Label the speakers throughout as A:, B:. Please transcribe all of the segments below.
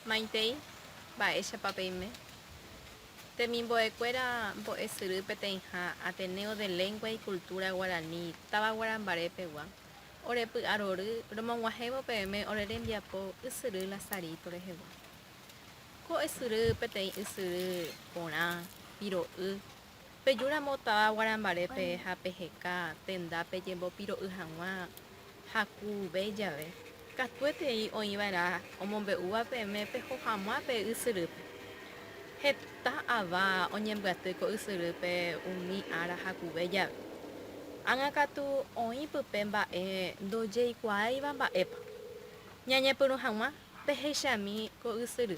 A: Maitei, mba'éichapa peime? Temimbo'ekuéra mbo'esyry peteĩha Ateneo de Lengua y Cultura Guarani táva Guarambaré pegua. Ore py'arory romog̃uahẽvo peẽme ore rembiapo ysyry Lazarito rehegua. Ko ysyry peteĩ ysyry porã, piro'y. Peju ramo táva guarambarépe ha peheka tenda pejembopiro'y hag̃ua ha ku ve jave. Katuetei oĩ va'erã omombe'úva peẽme peho hag̃ua pe ysyrýpe. Heta ava oñembyaty ko ysyrýpe umi ára hakuve jave. Ág̃a katu oĩ pype mba'e ndojeikuaáiva mba'épa. Ñañepyrũ hag̃ua pehechami ko ysyry.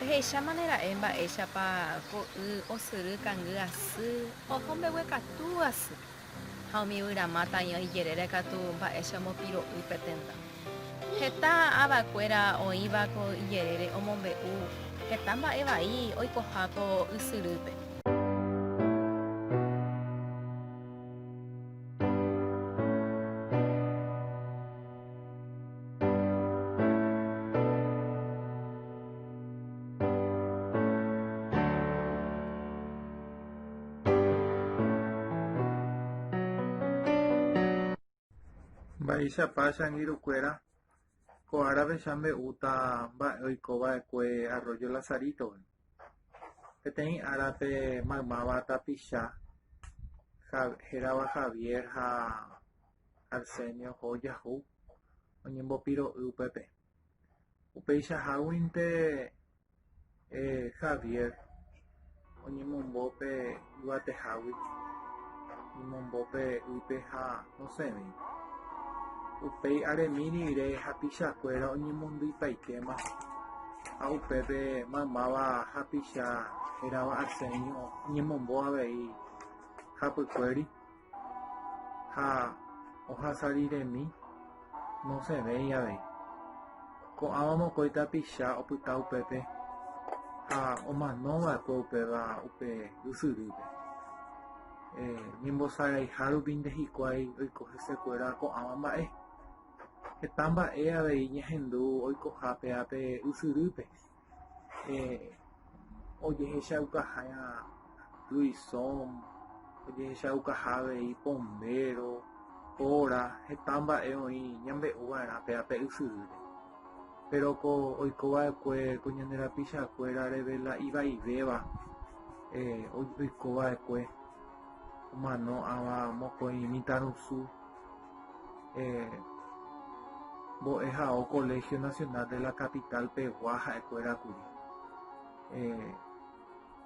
A: Pehechámane ra'e mba'éichapa ko y osyry kangy asy oho mbeguekatu asy, ha umi yvyrama taĩo ijerére katu mba'éicha omopiro'y pe tenda. Heta ava kuéra oĩva ko ijerére omombe'u heta mba'e vai oikoha ko ysyrýpe. Mba'éichapa changirukuéra ko árapecha mbe'úta mba'e oiko va'ekue Arroyo Lazarito. Peteĩ árape maymáva tapicha hérava Javier ha Arsenio hojahu oñembopiro'y upépe. Upeichaháguinte Javier oñemombo pe yvatehágui, oñemombo pe ýpe ha osẽvéi. Upéi aremi rire hapichakuéra oñemondyipaitéma ha upépe maymáva hapicha hérava Arsenio oñemombo avei hapykuéri. ha ohasariremi nosẽvéi avei. Ko'ãva mokõi tapicha opyta upépe ha omanova'ekue upéva upe ysyrýpe. Ñembosaraiha rupi nde hikuái oiko hesekuéra ko'ãva mba'e. Heta mba'e avei ñahendu oikoha péva pe ysyrýpe. eh, ojehechaukaha tuisom, ojehechaukaha avei pombéro, óra, heta mba'e oĩ ñambe'u va'erã pe ape ysyry. Péro ko oiko va'ekue ko ñande rapichakuéra revela ivaivéva eh, oiko va'ekue omano'ãva mokõi mitãrusu. mbo'ehao Colegio Nacional de la Capital pegua ha'ekuéra kuri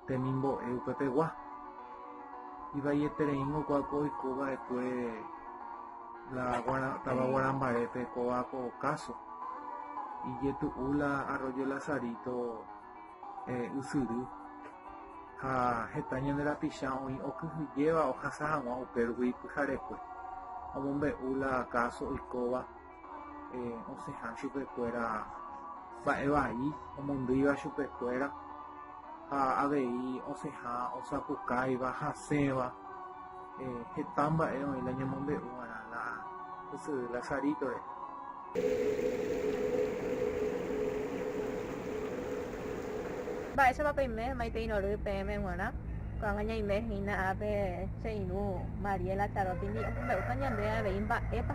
A: temimbo'e upe pegua. Ivaietereíngo ko apo oiko va'ekue la tava Guarambaépe kóva ko káso, ijetu'u la Arroyo Lazarito. ysyry ha heta ñande rapicha oĩ okyhyjéva ohasa hag̃ua upérõgui pyharekue. Omombe'u la káso oikóva osẽha chupekuéra mba'e vai omondýiva chupekuéra ha avei osẽha osapukáiva, hasẽva. Heta mba'e oĩ la ñamombe'u va'erã la ysyry Lazarito rehe. Mba'éichapa peime maitérõ ry peẽme g̃uarã? Ko'ág̃a ñaime hína ápe che irũ Mariela Charó tindi omombe'úta ñande avei mba'épa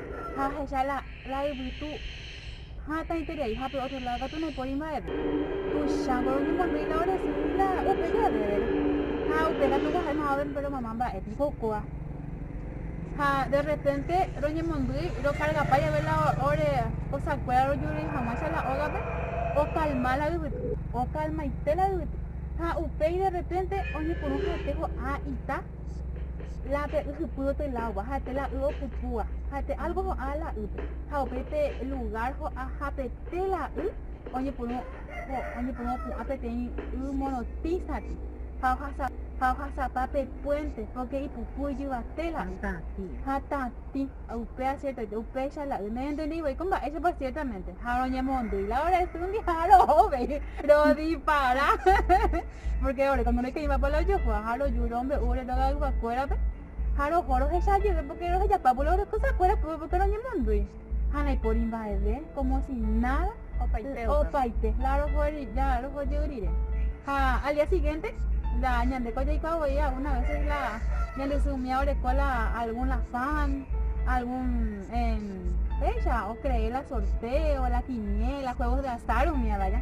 A: ha ahecha la, la yvytu ha taiterei, ha pe ótro ládo katu naipóri mba'eve. Tuichángo roñemondýi la orresy la upe jevére. Ha upe katu oha'e mavave pe romama mba'e piko kóva. Ha de rrepénte roñemondýi rokargapa jave la ore kosakuéra rojurúi hag̃uáicha la ógape, okalma la yvytu, okalmaite la yvytu. Ha upéi de rrepénte oñepyrũ ha'ete ho'a ita. la pe y hypy otelagua, ha pe la y opupúa, ha pe algo ho'a la ýpe, ha upe pe lugár ho'a ha pe te la y oñepyrũ opu'ã peteĩ y morotĩsati, ha ohasapa pe puénte, pórke ipuku ijyvate la y, ha tatĩ, upe asiertoite, upéicha la y noñentendí voi ko mba'éichapa siértamente, ha roñemondýi la ore y ndive ha roho uvei, rodipara. Pórke ore kuando reke'imapa la ojokuaa ha roju rombe'u ore rogayguakuérape, ha roho rohecha jeve pórke rohejapávo la ore kosakuéra pype pórke roñemondýi, ha ndaipóri mba'eve, kómo si náda, opaite la roho jey rire. Ha al día sigiénte, la ñandéko jaikuaa voi algúna véses la ñande sy umi aoreko la algún la fán, algún, péicha okreé la sortéo, la kiniéla, juégos de azár umíva ja.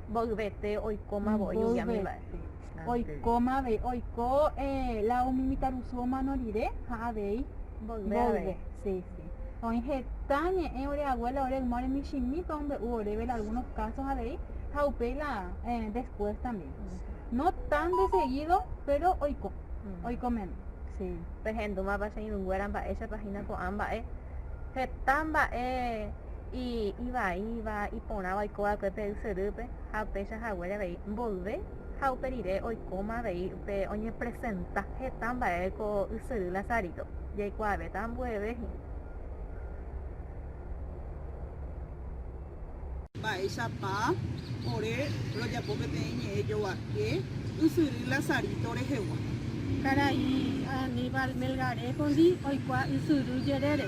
A: Mboyvete oikóma voi umi ami mba'e. Mboyvete oikóma avei oiko la umi mitãrusu omano rire ha avei mboyve. Sí, sí. Oĩ heta ñe'ẽ ore abuela ore yma ore michĩmípa ombe'u oréve la algunos casos avei ha upéi la después también. No tan de seguido, péro oiko, oiko meme. Sí. Pehendúmapa che irũnguéra mba'éichapa hína ko'ã mba'e, heta mba'e. Y ivaíva, iporãva oiko va'ekue pe ysyrýpe, ha upéicha haguére avei mboyve, ha upe rire oikóma avei pe oñepresenta heta mba'e ko ysyry Lazarito, jaikuaavéta ambueve hína. Mba'éichapa ore rojapo peteĩ ñe'ẽ jovake ysyry Lazarito rehegua? Karai Aníbal Melgarejo-ndi oikuaa ysyry jerére.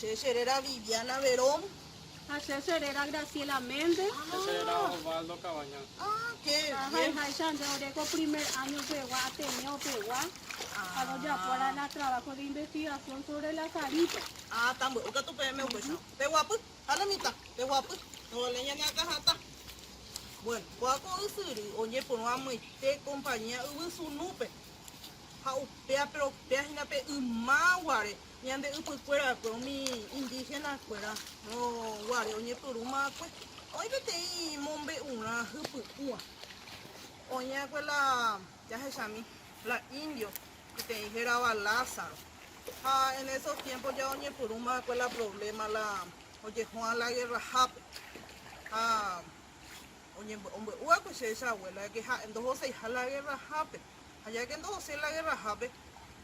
A: Che che réra Viviana Verón. Ha che che réra Graciela Méndez. Che che réra Osvaldo Cabañas. Ah, qué bien. Ha ha'eháicha nde ore ko primer año pegua Ateneo pegua. Ah. Ha rojapu'arã la trabajo de investigación sobre la Sarito. Ah, tamby'u katu peẽme upéicharõ. Peguapy, ha la mitad, peguapy. Novale ñane akã hatã. Bueno, kua ko ysyry oñepyrũ amoite compañía yvy sunúpe. Ha upéa, pero upéa hína pe yma guare. Ñande ypykuérakue umi indígenakuéra guare oñepyrũmakue, oĩ peteĩ mombe'urã hypy'ũva. Oĩakue la jahechami la indio peteĩ hérava Lázaro. Ha en esos tiempos ya oñepyrũmakue la problema la ojehúa la guerrahápe. Ha. Oñembo'embo'u va'ekue che che abuélake ha'e ndohoseiha la gerrahápe. Ha jáke ndohosei la gerrahápe,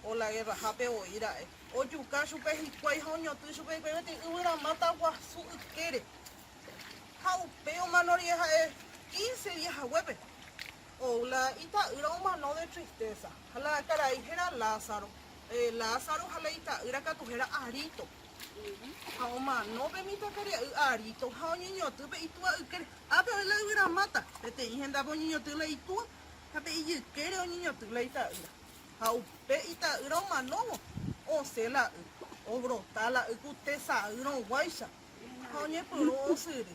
A: o la gerrahápe voi ra'e, ojuka chupe hikuái ha oñotỹ chupe hikuái peteĩ yvyramáta guasu ykére. Ha upéi omano rire ha'e quince día haguépe, ou la ita'ýra omano de tristésa. Ha la karai héra Lázaro, Lázaro ha la ita'ýra katu héra Arito. Ha omano pe mitãkaria'y Arito ha oñeñotỹ pe itúa ykére. Ápe oĩ la yvyramáta, peteĩ hendápe oñeñotỹ la itúa, ha pe ijykére oñeñotỹ la ita'ýra. Ha upe ita'ýra omanóvo, osẽ la y, obrota la y ku tesa'y rõguáicha, ha oñepyrũ osyry.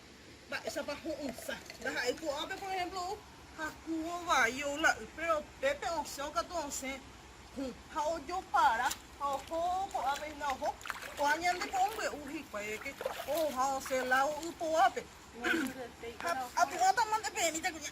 A: Mba'éichapa ho'ysã. Ndaha'éi ko'ápe, por ehémplo, ou hakuvo vai ou la y, péro upépe osẽ okatu osẽ hũ ha ojopara ha oho ko'ápe hína oho. Ko'ã ñande po ombya'u hikuái reke ohoha osẽ lágo y poguápe. Ha apu'ãtama nde peẽmíta kuña.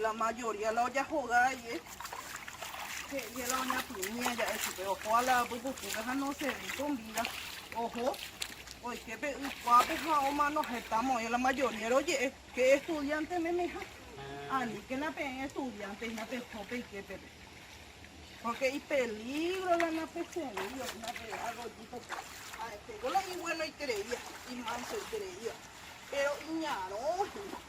A: La mayoría la ojahoga aie, he'íje la oñapymi aja'e chupe, oho ala apy pukúpe ha no servi con vida, oho oike pe y kuápe ha omano heta mo'ẽ, la mayoría roje'e pe estudiante memeha, aníkena peẽ estudiante hína peho peike pe, porque ipeligro la napeservíva hína pe arroyito pe, ha'etéko la ibuenoitereíva, imansoitereíva, péro iñarõ hína.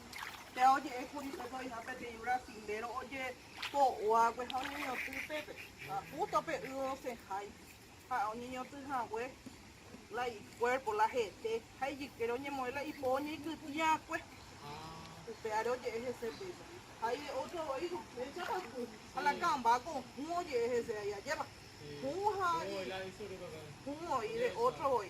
A: Péva oje'e kuri pe so'yha peteĩ yvra sindéro ojepo'uágue ha oñeñotỹ upépe. Ha jústo pe y osẽhái ha oñeñotỹ hague la ikuérpo, la hete ha ijykére oñemoĩ la ipo oñeikytĩakue. Upévare oje'e hese péicha. Ha y ótro voi upéichapa kũ ha la kãmba ko hũ oje'e hese aja ajépa. Hũ ha y hũ voi de ótro voi.